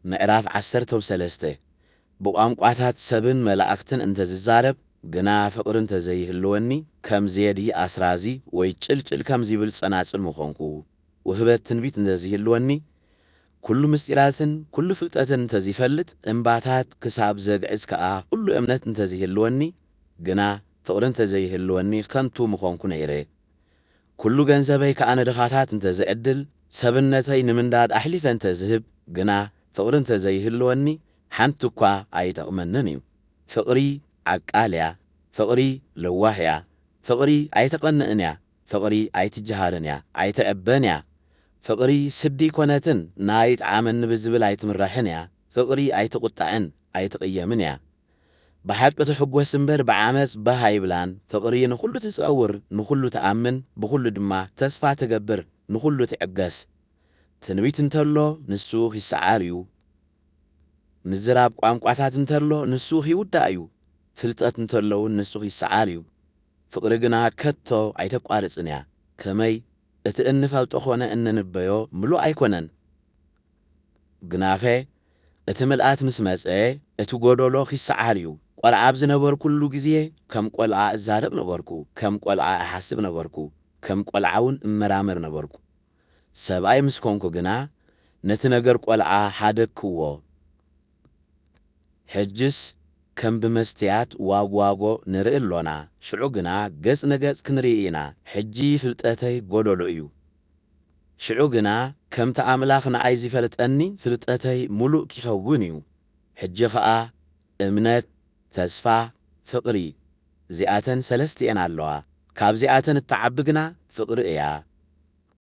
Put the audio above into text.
ምዕራፍ ዓሰርተው ሰለስተ፣ ብቋንቋታት ሰብን መላእኽትን እንተ ዝዛረብ ግና ፍቕሪ እንተ ዘይህልወኒ ከም ዜዲ ኣስራዚ ወይ ጭልጭል ከም ዚብል ጸናጽል ምዀንኩ፣ ውህበት ትንቢት እንተ ዚህልወኒ ኵሉ ምስጢራትን ኵሉ ፍልጠትን እንተ ዚፈልጥ እምባታት ክሳብ ዘግዕዝ ከኣ ዅሉ እምነት እንተ ዚህልወኒ ግና ፍቕሪ እንተ ዘይህልወኒ ኸንቱ ምዀንኩ ነይረ። ኩሉ ገንዘበይ ከኣ ንድኻታት እንተ ዝዕድል፣ ሰብነተይ ንምንዳድ ኣሕሊፈ እንተ ዝህብ ግና ፍቕሪ እንተ ዘይህልወኒ ሓንቲ እኳ ኣይጠቕመንን እዩ። ፍቕሪ ዓቃል እያ። ፍቕሪ ለዋህ እያ። ፍቕሪ ኣይተቐንእን እያ። ፍቕሪ ኣይትጀሃርን እያ። ኣይትዕበን እያ። ፍቕሪ ስዲ ኣይኮነትን፣ ናይ ይጥዓመኒ ብዝብል ኣይትምራሕን እያ። ፍቕሪ ኣይትቑጣዕን፣ ኣይትቕየምን እያ። ብሓቂ ትሕጎስ እምበር ብዓመጽ ባህ ኣይብላን ፍቅሪ ንኩሉ ትጸውር ንኩሉ ትኣምን ብኩሉ ድማ ተስፋ ትገብር ንኩሉ ትዕገስ ትንቢት እንተሎ ንሱ ኪሰዓር እዩ ምዝራብ ቋንቋታት እንተሎ ንሱ ኪውዳእ እዩ ፍልጠት እንተሎ ውን ንሱ ኪሰዓር እዩ ፍቅሪ ግና ከቶ ኣይተቋርጽን እያ ከመይ እቲ እንፈልጦ ኮነ እንንበዮ ምሉእ ኣይኮነን ግናኸ እቲ ምልኣት ምስ መጸ፣ እቲ ጐደሎ ኺሰዓር እዩ። ቈልዓ ኣብ ዝነበርኩሉ ግዜ፣ ከም ቈልዓ እዛረብ ነበርኩ፣ ከም ቈልዓ እሓስብ ነበርኩ፣ ከም ቈልዓ እውን እመራመር ነበርኩ። ሰብኣይ ምስ ኰንኩ ግና፣ ነቲ ነገር ቈልዓ ሓደግክዎ። ሕጅስ ከም ብመስትያት ዋጕዋጐ ንርኢ ኣሎና፣ ሽዑ ግና ገጽ ንገጽ ክንርኢ ኢና። ሕጂ ፍልጠተይ ጐደሎ እዩ፣ ሽዑ ግና ከምቲ ኣምላኽ ንኣይ ዚፈልጠኒ ፍልጠተይ ምሉእ ኪኸውን እዩ። ሕጂ ኸኣ እምነት፣ ተስፋ፣ ፍቕሪ፣ እዚኣተን ሰለስቲኤን ኣለዋ፣ ካብዚኣተን እትዓቢ ግና ፍቕሪ እያ።